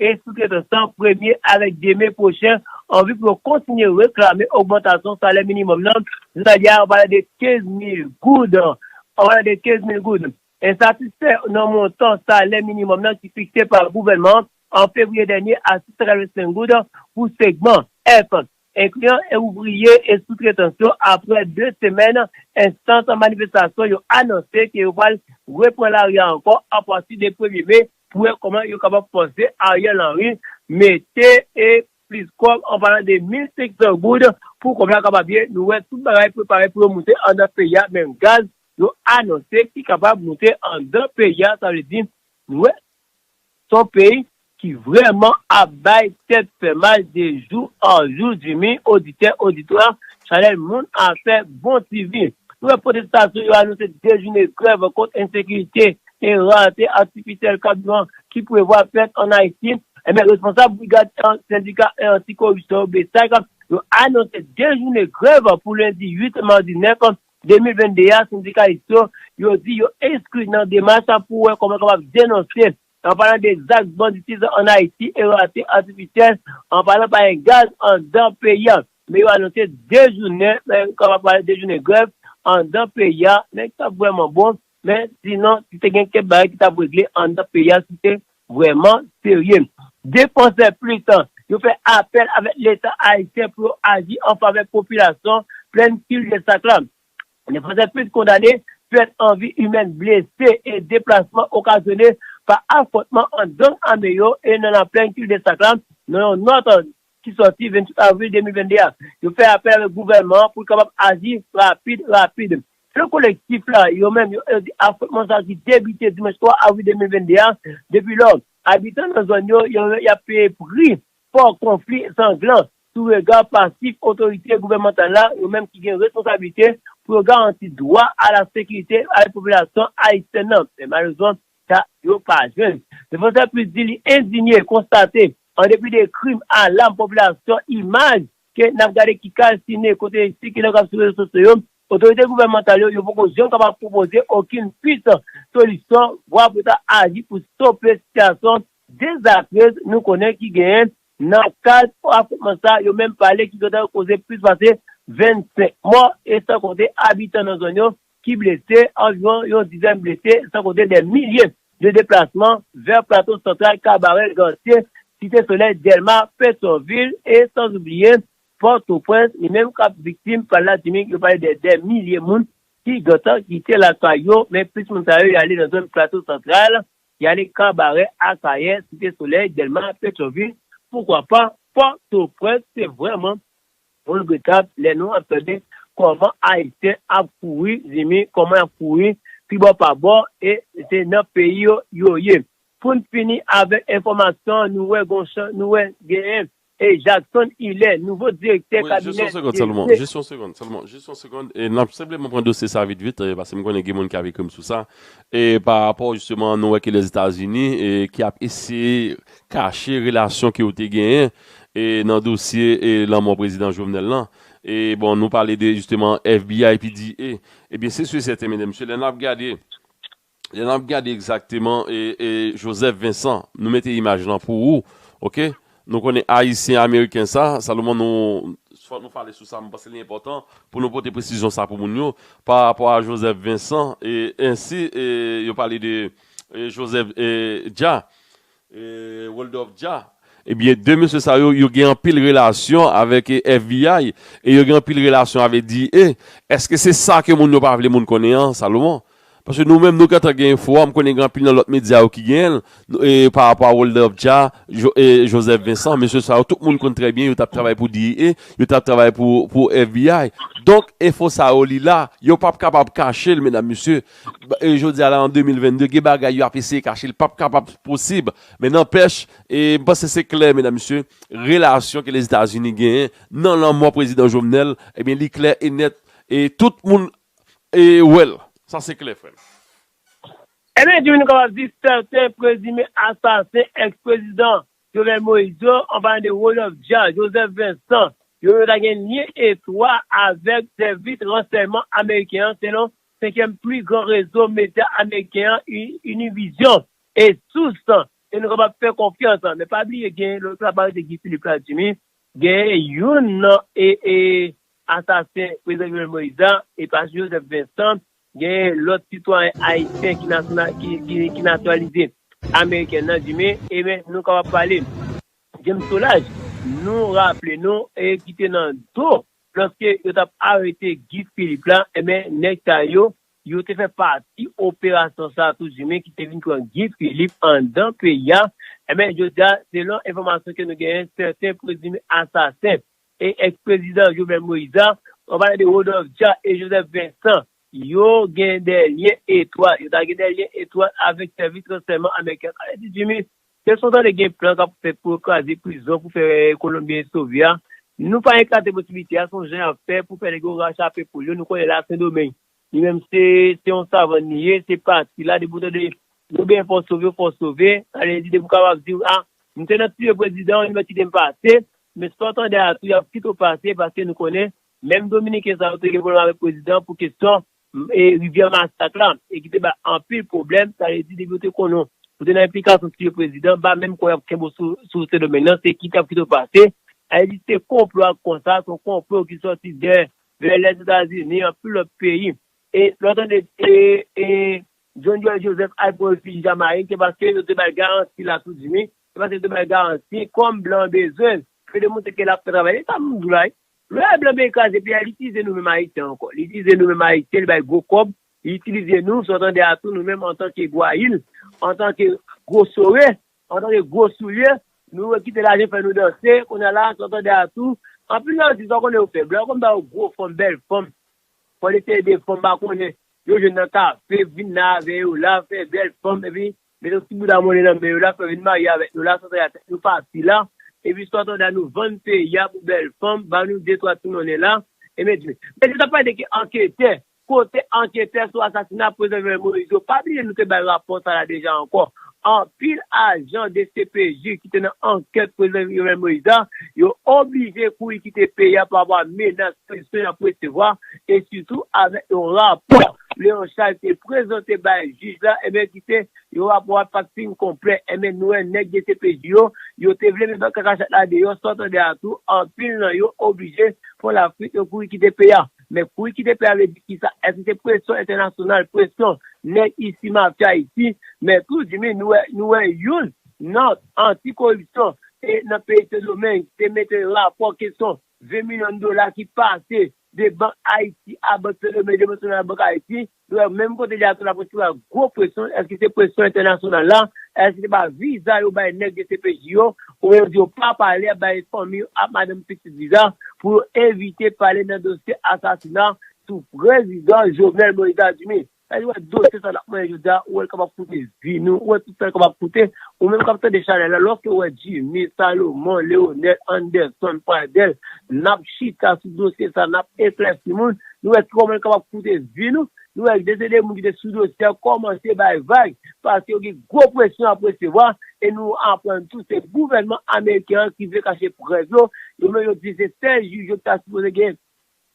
Speaker 1: e soutretan san premye avèk demen pwochen anvi pou yo kontinye reklame ogmantasyon salè minimòm nan jounalye a an valè de 15 mil goud an valè de 15 mil goud. Ensatisfè nan montan salè minimòm nan ki fikse pa gouvènman an an fevriye dènye a 685 goud pou segman F Enkliyan e ouvriye e soutretans yo aprè 2 semèn enstant manifestasyon yo anonse ke yo pral repran lari a ankò apati de premye me pou wè kòman yo kapab fòse Ariel Henry mete e plis kòb an palan de 1500 goud pou kòb la kapab ye nou wè tout bagay prepare pou yo moute andan peyi a menm gaz yo anonse ki kapab moute andan peyi a sa vle di nou wè Son peyi ki vrèman ap bay tèt fè mal de jou an jou Jimmy oditè oditwa chanèl moun afè bon ti vi nou wè pwotestasyon yo anonse 2 jounen grèv kont ensekirite e rate atifisyèl kabiran ki prevwa fèt an Ayiti enben responsab brigad sendika anti koripsyon yo BSAC yo anonse 2 jounen grèv pou lendi 8 e madi 9 2022 a, sendikalis yo, yo di yo enskri nan demach la pou wè kòman yo kapab denonse, an palan de zak banditizm an Ayiti e rate atifisyèl, an palan pa gen gaz anndan peyi a. Men yo anonse 2 jounen, yo kapab pale 2 jounen grèv anndan peyi a, men sa k vrèman bon, Men, sinon, si te gen kèk bagay ki t ap regle anndan peyi a si te vrèman serye. Défenseurs Plus yo fè apèl avèk Leta ayisyen pou yo aji an favè popilasyon plèn Kildesak la. Défenseurs Plus kondane pèt an vi imèn, blese e deplasman okazyone pa afwontman ant gang ame yo e nan laplèn Kildesak la nan yon nòt ki sòti 28 avril 2022 a, yo fè apèl avèk gouvènman an pou l kapab aji rapid rapid. Selon kolektif la, yo menm yo di afwontman sa ki debite dimanch 3 avril 2022 a, depi lò, abitan nan zòn yo yo y ap peye pri fò konfli sanglan sou rega pasif otorite gouvènmantal la, yo menm ki gen responsablite pou yo garanti dwa a la sekirite avèk popilasyon ayisyèn nan. Men malerezman, Sa yo pa jwenn. Defensè Plis di li endinye konstate, an depi de krim alam popilasyon, imaj ke n ap gade ki kalsine kote li sikile kòm sou rezo sosyo yo, otorite gouvènmantal yo, yo poko janm kapab pwopoze okenn pis solisyon, vwa pou ta aji pou stope sitiyasyon dezastrez nou konnen ki genyen nan kad afwontman sa yo menm pale ki gentan koze plis pase 25 mò e san konte abitan nan zòn yo ki blese, anviwon yon dizèn blese, san konte dè milye de deplasman vè Plato Santral, Kabarè, Gantye, Site Solèy, Dèlma, Petyonvil e sanzoubliye Pòtoprens, li menm kap viktim pa ladimik, yo pale dè dè milye moun ki gentan kite lakay yo, men plis moun sa yo y ale nan zòn Plato Santral, y ale Kabarè, Akayè, Site Solèy, Dèlma, Petyonvil, poukwa pa Pòtoprens, se vrèman. Mwen regretab lè nou ap tande kòman ayisyen ap kouri zinmi kòman yap kouri pi bò pa bò e se nan peyi yo yo ye poun fini avèk enfòmasyon nou wè gon chan nou wè genyen e Jackson Hilaire nouvo direktè Wi, jis yon kabinè segond selman, depite. jis
Speaker 2: yon segond selman, jis yon segond e nap senpleman pran dosye sa vit vit e paske m konnen gen moun ki ap ekri m sou sa e pa rapò jisteman nou wè ke Lèzetazini e ki ap eseye kache relasyon ke yo te genyen e nan dosye e lanmò prezidan Jovenel lan e bon nou pale de jisteman FBI epi di e ebyen se su e sèten medam mesye lè nap gade lè nap gade egzakteman e e Joseph Vincent nou mete imaj lan pou ou ok nou konnen ayisyen ameriken sa Salomon nou fòk nou pale sou sa mwen panse li enpòtan pou nou pote presizyon sa pou moun yo pa rapò a Joseph Vincent e ensi e yo pale de e Joseph e dja. Woldòf Dja, Ebyen 2 mesye sa yo, yo gen anpil relasyon avèk FBI e yo gen anpil relasyon avè DEA. Eske se sa ke moun yo pa vle moun konnen an, Salomon? Paske nou menm nou gentan gen enfo a, m konnen gen anpil nan lòt medya yo ki genyen l, pa rapò a Woldòf Dja, Joseph Vincent, mesye sa yo tout moun konn trè byen yo t ap travay pou DEA, yo t ap travay pou FBI. Donk, enfo sa yo li la, yo p ap kapab kache l, medam mesye, Jodi a la an 2022 gen bagay yo ap eseye kache li pap kapab posib men nanpèch m panse se klè medam mesye relasyon ke Lèzetazini genyen nan lanmò prezidan Jovenel ebyen li klè e nèt e tout moun wè l sa se klè frè m.
Speaker 1: Ebyen ki vin kapab di sèten prezime asasen ex prezidan Jovenel Moïse yo an palan de Rodolphe Dia, Joseph Vincent yo yo ta gen lyen etwa avèk sèvis ransèyman ameriken an selon Senkyèm pli gran rezo medya ameriken an Univision e sous ke nou kapab fè konfyans men pa bliye gen lòt la pa rete Guy Philippe la Jimmy gen youn nan asasen prezidan Jovenel Moïse la e pa Joseph Vincent gen lòt sitwayen ayisyen ki natiralize ameriken nan Jimmy e men nou kapab pale James Solage nou raple nou ki te nan do Lòske yo tap arete Guy Philippe la enben nèg sa yo, yo te fè pati operasyon sa tou du men ki te vin pran Guy Philippe andan peyi a enben jodi a selon enfòmasyon ke nou genyen sèten prezime asasen e ex prezidan Jovenel Moïse la, mwen pale de Rodolphe Dia e Joseph Vincent yo gen dè lyen etwat, yo ta gen dè lyen etwat avèk sèvis ransèyman ameriken an, sa vle di du men Kè son tande gen plan kap fèt pou yo kraze prizon pou fè kolonbyen sove a nou pa eklate posibilite a son jan yap fè pou fè nèg yo rachape poul yo nou konnen la sendomeng li menm se se yon savann li ye se pati la depi ou tande yo gen fòs sove yo fòs sove ale di depi ou kapab di a m te nan tiye prezidan an li mèt kite m pase men sa w tande a tou yap kite w pase paske nou konnen menm dominiken sa yo te gen pwoblèm avèk prezidan pou kesyon rivyè masak la e ki te bay anpil pwoblèm, sa vle di depi yo te konnen w, ou te nan enplikasyon si yo prezidan, m pa menm kwè y ap kenbe w sou Sendomeng nan, se kite y ap kite w pase, sa vle di se konplo ak konsa, se yon konplo ki sòti dè vè Lèzetazini, anpil lòt peyi, e lè w tande e John Joel Joseph al pran refiji Jamayik se paske yo te bay garanti la tou di wi, se paske yo te bay garanti kòm blan bezwen l, ke demontre ke l ap fè travay, e sa m di w la wi. Lè blan vle kraze peyi a li itilize nou menm ayisyen ankò li itilize nou menm ayisyen li bay gwo kòb li itilize nou sa w tande a tou nou menm antanke gwayil antanke gwo sore antanke gwo soulye nou wè kite lajan fè nou danse kounye a la sa w tande a tou anpil nan atis pa konnen yo fè blan yo konn ba yo gwo fanm bèl fanm fò l eseye de fanm pa konnen yo jwenn nan kafe vin la avè yo la fè bèl fanm epi Met yon ti bouda monnen nan men yo la pou yo vin marye avèk nou la san tanda tèt nou pati la epi san tanda nou vann peyi a pou bèl fanm ba nou de twa ti monnen la e men di mesye tap pale de ki anketè kote anketè sou asasina prezidan Jovenel Moïse yo pa bliye nou te bay rapò sa la deja ankò anpil ajan dcpj ki te nan ankèt prezidan Jovenel Moïse la yo oblije kouri kite peyi a pa rapò a menas presyon yap resevwa e sitou avèk yon rapò. Léon Charles te prezante bay jij la, enben ki se, yon rapò a pat fin konplè, enben nou wè nèg dcpj yo, yo te vle met bank kakachat la deyò, sa w tande a tou, anpil nan yo oblije pran lafwit yo kouri kite peyi a. Men kouri kite peyi a vle di kisa? Èske se presyon entènasyonal, presyon nèg isi mafya isi? Men tou Jimmy nou wè, nou wè youn nan anti koripsyon e nan peyi sendomeng te mete rapò kesyon 20 milyon dola ki pase de Bank Ayiti a, Bank Fenome de Monsonay a, Bank Ayiti, nou wè menm kote li atè la polis la gwo presyon, èske se presyon entènasyonal la, èske se pa viza yo bay nèg dcpj yo, oubyen yo di yo pa pale ap bay fanmi yo ak madanm pitit viza pou yo evite pale nan dosye asasina sou prezidan Jovenel Moïse la, Jimmy. Sa li wè dosye sa nap manyen jodi a ou wèl kapab koute vi nou, ou wè tout sa li kapab koute, ou menm kap tande chanèl la lè w fè wè Jimmy, Salomon, Leonel, Anderson, Pradel nap chita sou dosye sa nap eklèsi moun, nou wè kòman li kapab koute vi nou, nou wè de se de moun ki te sou dosye a kòmanse bay vag paske yo gen gwo presyon yap resevwa e nou aprann tou se gouvènman ameriken an ki vle kache prèv yo, yo menm yo di se 16 jij yo ta sipoze gen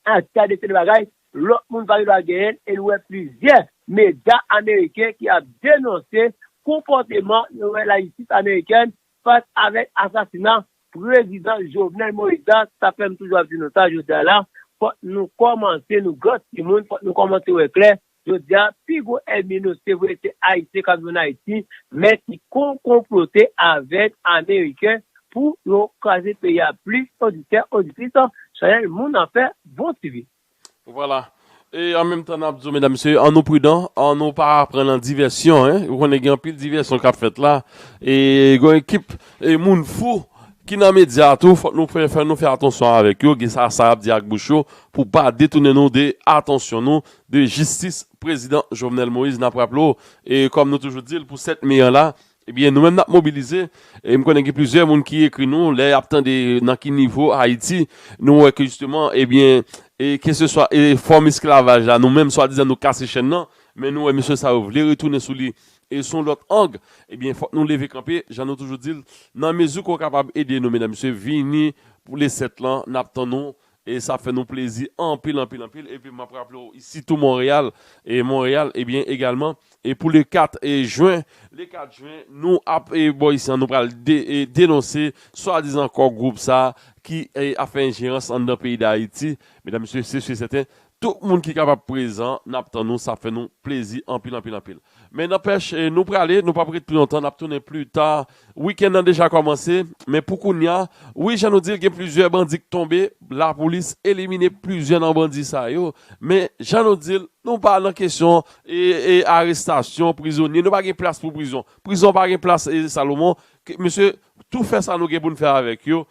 Speaker 1: Ah gade seri bagay lòt moun pa gen dwa genyen e nou wè plizyè medya ameriken ki ap denonse konpòteman yo wè lajistis amerikèn fas avèk asasina prezidan Jovenel Moïse la sa fèm toujou ap di nou sa jodi a la fòk nou kòmanse nou gran timoun fòk nou kòmanse wè klè Jodi a, pi gwo ènmi nou se vre se Ayisyen k ap viv ann Ayiti men ki konkonplote avèk Ameriken pou yo kraze peyi a plis oditè, oditris, chanèl moun an fè bon ti vi. Vwala.
Speaker 2: E an menm tan n ap di w medam mesye an nou pridan, an nou pa pran nan divèsyon en, ou konnen gen anpil divèsyon k ap fèt la e gen yon ekip e moun fou ki nan medya a tou fòk nou fè fè nou fè atansyon avèk yo gen sa sa y ap di ak bouch yo pou pa detounen nou de atansyon nou de jistis prezidan Jovenel Moïse nap raple w e kòm nou toujou di l pou 7 me an la ebyen nou menm nap mobilize e m konnen gen plizyè moun ki ekri nou lè yap tande nan ki nivo Ayiti nou wè ke jisteman ebyen e ke se swa e fòm esklavaj la nou menm swadizan nou kase chenn nan men nou wè mesye sa yo vle retounen sou li e son lòt ang ebyen fòk nou leve kanpe jan nou toujou di l nan mezi ke w kapab ede nou medam mesye vini pou le 7 lan nap tann nou E sa ap fè nou plezi anpil, anpil, anpil. Epi m ap raple w isi tou Monreyal, e Monreyal, ebyen egalman, e pou le 4 Jwen, le 4 Jwen, nou ap bò isi an, nou pral denonse swadizan Kò Gwoup sa a ki ap fè enjerans anndan peyi Dayiti. Medam, mesye, se si e sèten, Tout moun ki kapab prezan nap tann nou sa fè nou plezi anpil anpil anpil men nanpèch nou prale nou pap ret pi lontan nap tounen pli ta wikenn nan deja kòmanse men pou kounya wi jan nou dil gen plizyè bandi k tonbe lapoulis elimine plizyè nan bandi sa yo men jan nou dil nou pa nan kesyon arestasyon prizonye nou pa gen plas pou prizon prizon pa gen plas salomon mesye tou fè sa nou gen poun fè avèk yo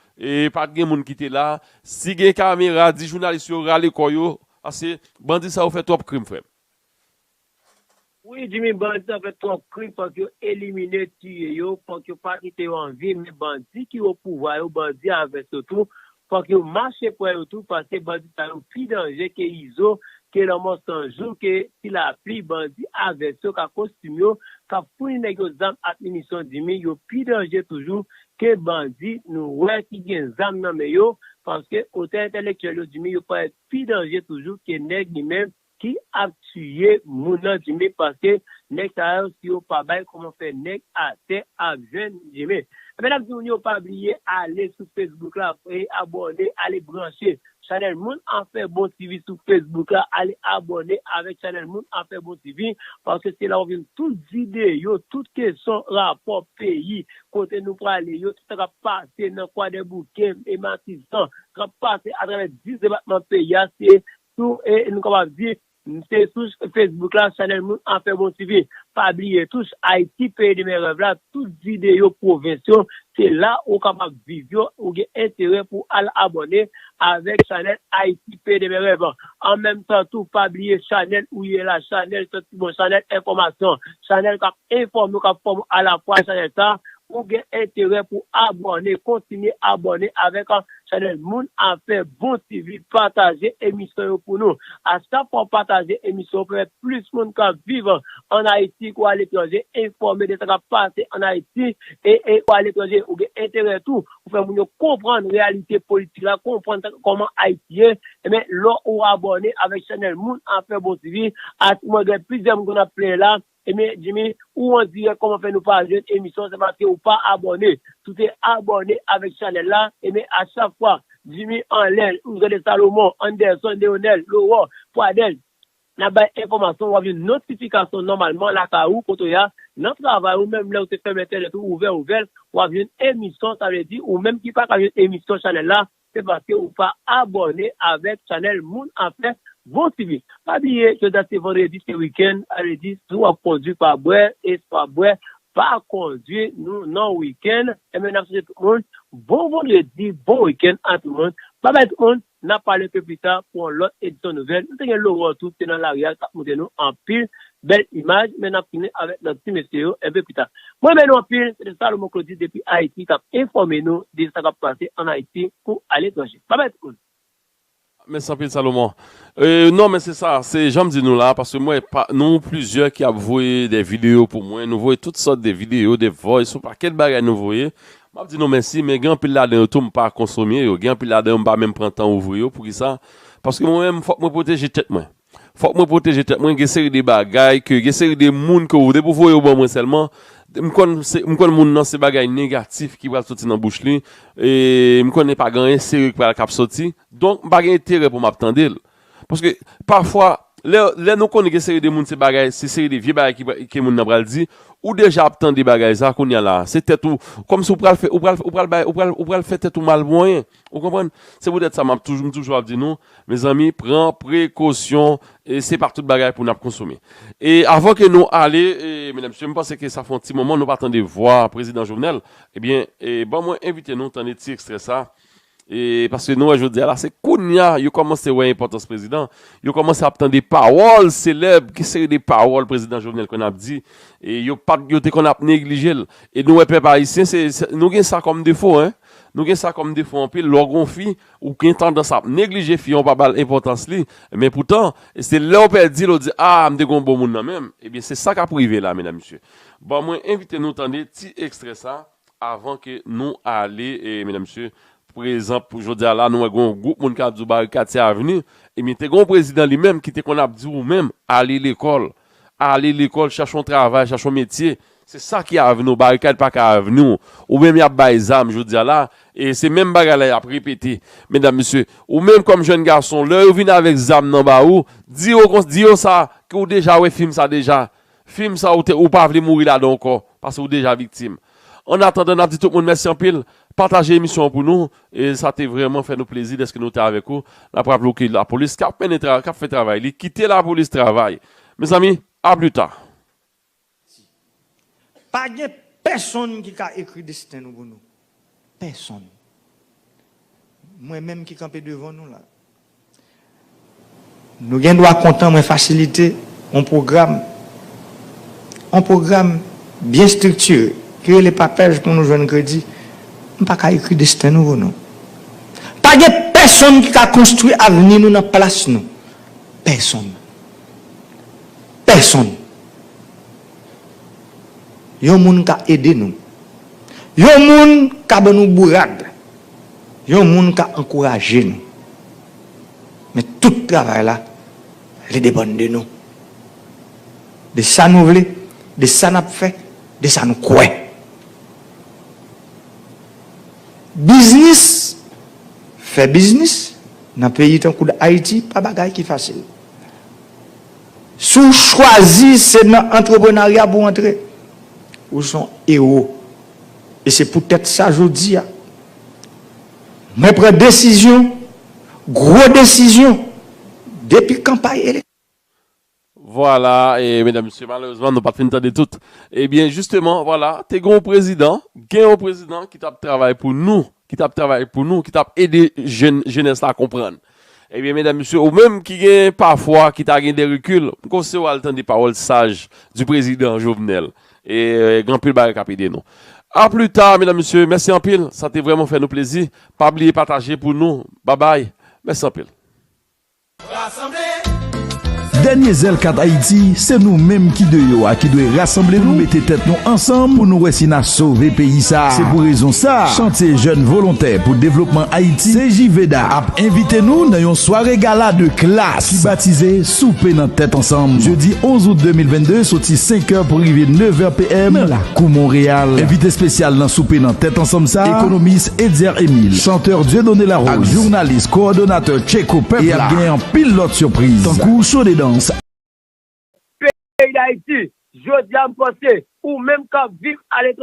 Speaker 2: Pat gen moun kite la. Si gen kamera di jounalis yo rale kò yo paske bandi sa yo fè twòp krim frèm.
Speaker 1: Wi Jimmy bandi sa yo fè twòp krim fòk yo elimine tiye yo fòk yo pa kite yo an vi men bandi ki o pouvwa yo bandi a vès yo tou fòk yo mache pwè yo tou paske bandi sa yo pi danje ke izo ke lanmò san jou ke ti lapli bandi a vès yo ka kostim yo kap founi nèg yo zam ak minisyon Jimmy yo pi danje toujou Ke bandi nou wè ki gen zam nan men yo, paske otè entèlektyèl yo dimi yo parèt pi danje toujou ke nèg li menm ki ap tiye moun nan dimi paske nèg sa yo si yo pa bay kòman fè nèg atè ap jwenn dimi. Ebyen nap di moun yo pa bliye ale sou Facebook la e abòne ale branche Chanel moun afè bon TV sou Facebook la ale abòne avèk chanel moun afè bon TV paske se la wap jwenn tout video tout kesyon rapò peyi kote nou prale yo tout sa kap pase nan kwadèboukè e matizan kap pase atravè 10 depatman peyi a se sou nou kapab di Kmnte sou Facebook la chanel moun Afèbon TV pa bliye touch Ayiti peyi demen rèv la tout videyo pwovens yo se la ou kapab viv yo ou gen enterè pou al abòne avèk chanel Ayiti peyi demen rèv an menm tan tou pa bliye chanel ou ye la chanel sant ki bon chanel enfòmasyon chanel kap Enfòme ou kap fòm alafwa chanèl sa ou gen enterè pou abòne kontinye abòne avèk chanèl moun afè bon TV pataje emisyon yo pou nou a chak fwa ou pataje emisyon pèmèt plis moun kap viv an ayiti kou aletranje enfòme de sa kap pase an ayiti e kou aletranje ou gen enterè tou pou fè moun yo konprann reyalite politik la konprann kòman ayiti ye ebyen lè ou abòne avèk chanèl moun afè bon TV a mwen gen plizyè moun konn ap plenyen la Ebyen Jimmy ou andirèk kòman fè nou pa jwenn emisyon an se paske ou pa abòne si w te abòne avèk chanèl la ebyen a chak fwa Jimmy anlè ou jwenn Salomon, Anderson, Leonel, Laurent, Pradel nap bay enfòmasyon wap jwenn notifikasyon nòmalman lakay ou kote w ya nan travay ou menm lè ou te fèmen entènèt ou ouvè ouvè l wap jwenn emisyon sa vle di ou menm ki paka jwenn emisyon chanèl la Se paske ou pa abòne avèk chanèl moun afè bon sivil. Pa bliye jodia se vandredi se wikenn savledi si wap kondwi pa bwè e si wap bwè pa kondwi nou nan wikenn enben nap swete tout moun bon vandredi bon wikenn a tout moun babay tout moun nap pale ke pita pou yon lòt edisyon nouvèl nou te gen lorò tou se nan lari a tap moute nou anpil Bel imaj men nap tounen avek lot ti mesye yo enpe pita. Mwen renmen nou anpil se te Salomon Claudy depi Haiti kap enfome nou de sa kap pase an Haiti kou a letranje. Babay tout moun. Mèsi
Speaker 2: anpil Salomon. Euh non men se sa, se janm di nou la paske m wè pa nou plizyè ki ap voye dè videyo pou mwen, nou voye tout sòt de videyo, de voice, yon pakèt bagay nou voye, m ap di nou mèsi men gen anpil ladan yo tou m pa konsome yo, gen anpil ladan yo m pa menm pran tan ouvri yo poukisa paske mwen menm fòk mwen pwoteje tèt mwen. Fòk mwen pwoteje tèt mwen gen seri de bagay ke gen seri de moun ke ou depi ou voye yo ban mwen sèlman m konn se m konn moun nan se bagay negatif ki pral soti nan bouch li e m konnen pa gen anyen serye ki pral kap soti donk m pa gen enterè pou map tande l paske pafwa lè lè nou konnen gen seri de moun se bagay se seri de vye bagay ki pral ke moun nan pral di ou deja ap tande bagay sa kounya la se tèt ou kòmsi ou pral fè ou pral ou pral bay ou pral ou pral fè tèt ou mal pou anyen. Ou konprann? Se poutèt sa map toujou m toujou ap di nou, mezanmi pran prekosyon e se pa tout bagay pou nap konsome. E avan ke nou ale e medam mesye m panse ke sa fè yon ti moman nou pa tande vwa prezidan Jovenel, ebyen e ban mwen envite nou tande ti ekstrè sa e paske nou wè jodi a la se kounya yo kòmanse wè enpòtans prezidan, yo kòmanse ap tande pawòl selèb ki seri de pawòl prezidan Jovenel konn ap di e yo pat yo te konn ap neglije l e nou wè pèp ayisyen se nou gen sa kòm defo hein. Nou gen sa kòm defo anpil, lè w gen yon fi, ou gen tandans ap neglije fi an, ou pa ba l enpòtans li, men poutan, se lè w pèdi l ou di, aa m te gen yon bon moun nan menm, ebyen se sa k ap rive la medam mesye. Bon mwen envite nou tande ti ekstrè sa avan ke nou ale medam mesye, pou egzanp pou jodi a la nou wè gen yon gwoup moun k ap di w Barikad se avni, ebyen te gen yon prezidan li menm ki te konn ap di w menm ale lekòl, Ale lekòl, chache yon travay, chache yon metye. Se sa ki avni w. Barikad pa ka avni w. Ou menm y ap bay zam jodi a la, e se menm bagay la y ap repete. Medam, mesye, ou menm kòm jèn gason, lè yo vin avèk zam nan ba ou, di yo kon, di yo sa, ke ou deja wè fim sa deja. Fim sa ou te, ou pa vle mouri ladan ankò, pase ou deja viktim. Ann atandan, n ap di tout moun mèsi anpil. Pataje emisyon an pou nou. E sa te vrèman fè nou plezi dèske nou te avèk ou. N ap raple w ke lapolis k ap mennen tra, k ap fè travay li. Kite lapolis travay! Mezanmi, a pli ta! Ti.
Speaker 5: Pa gen pèsonn ki ka ekri desten nou pou nou. Pèsonn. Mwen menm ki kanpe devan nou la. Nou gen dwa kontan mwen fasilite yon pwogram, yon pwogram byen striktire ki rele papèj pou nou jwenn kredi. M pa ka ekri desten nou pou nou. Pa gen pèsonn ki ka konstwi avni nou nan plas nou. Pèsonn. Pèsonn. Yon moun ka ede nou. Yon moun ka ban nou bourad. Yon moun ka ankouraje nou, men tout travay la, li depann de nou. De sa nou vle, de sa n ap fè, de sa nou kwè. Biznis, fè biznis nan peyi tankou Dayiti pa bagay ki fasil. Si w chwazi se nan antreprenarya pou w antre, ou son ewo. E se poutèt sa jodi a, mwen pran desizyon, gwo desizyon, depi kanpay elek.
Speaker 2: Vwala, e medam mesye, malerezman nou pa t fin tande tout. E byen jisteman, vwala, te gen yon prezidan, gen yon prezidan ki t ap travay pou nou, ki t ap travay pou nou, ki t ap ede jenès la konprann. Ebyen medam mesye ou menm ki gen pafwa ki ta gen de rekil m konseyew al tande pawòl saj di prezidan Jovenel e gen anpil bagay kap ede nou a pli ta medam mesye mèsi anpil sa te vrèman fè nou plezi pa bliye pataje pou nou babay mèsi anpil. Rasanble
Speaker 6: Dènye zèl kat Ayiti, se nou menm ki de yo a ki dwe rasanble nou, mete tèt nou ansanm pou nou wè si na sove peyi sa. Se pou rezon sa, Chantye Jèn Volontè pou Devlopman Ayiti, CJVDA, ap envite nou nan yon sware gala de klas ki batize Soupe nan Tèt Ansanm, jedi 11 out 2022, soti 5 è pou rive 9 è PM, nan lakou Monreyal. Envite spesyal nan Soupe nan Tèt Ansanm sa, Ekonomis, Etzer Emile, chanteur Dieudonné Larose ak jounalis kowòdonatè Tcheko pèp la e ap gen anpil lòt sipriz tankou show de dans ak.
Speaker 1: Peyi Dayiti, Jodi a m panse ou menm k ap viv aletranje.